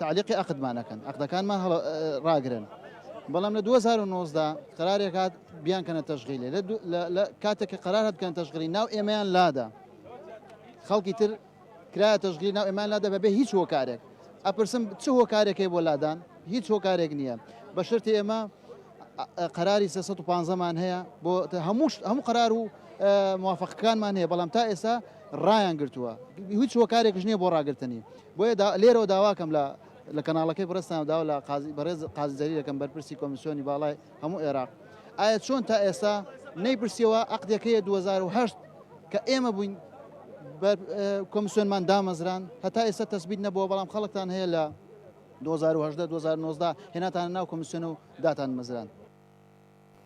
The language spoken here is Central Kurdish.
تەعلیقی عەقدمان ئەکەن، عەقدەکانمان هەڵە ڕاگرن، بەڵام لە دوو هەزار و نۆزدە قەرارێک هات بیانکەنە تەشغیلێ لە کاتێک کە قەرار هات بکەن تەشغیلی ناو ئێمەیان لادا خەڵکی تر کرایە تەشغیلی ناو ئێمان لادا بەبێ هیچ هۆکارێک ئەپرسم چ هۆکارێکی بۆ لادان هیچ هۆکارێک نییە بە شرتی ئێمە قەراری سێ سەد و پانزە مان هەیە بۆ هەموو هەموو قەرار و موافقەکانمان هەیە بەڵام تا ئێستا ڕایان گرتووە هیچ هۆکارێکش نییە بۆ ڕاگرتنی بۆیە لێرەوە داواکەم لە لە کەناڵەکەی بڕستان داوا لە قازی بەڕێز قازیزەری دەکەم بەرپرسی کۆمیسیۆنی باڵای هەموو عێراق ئایا چۆن تا ئێستا نەیپرسیەوە عقدەکەیە 2010 کە ئێمە بووین کۆمیسیۆنمان دامەزران هەتا ئێستا تەسبیت نەبووە بەڵام خەڵکتان هەیە لە دوو هەزار و هەژدە دوو هەزار و نۆزدە هێناتانە ناو کۆمیسیۆن و داتانمەزراند.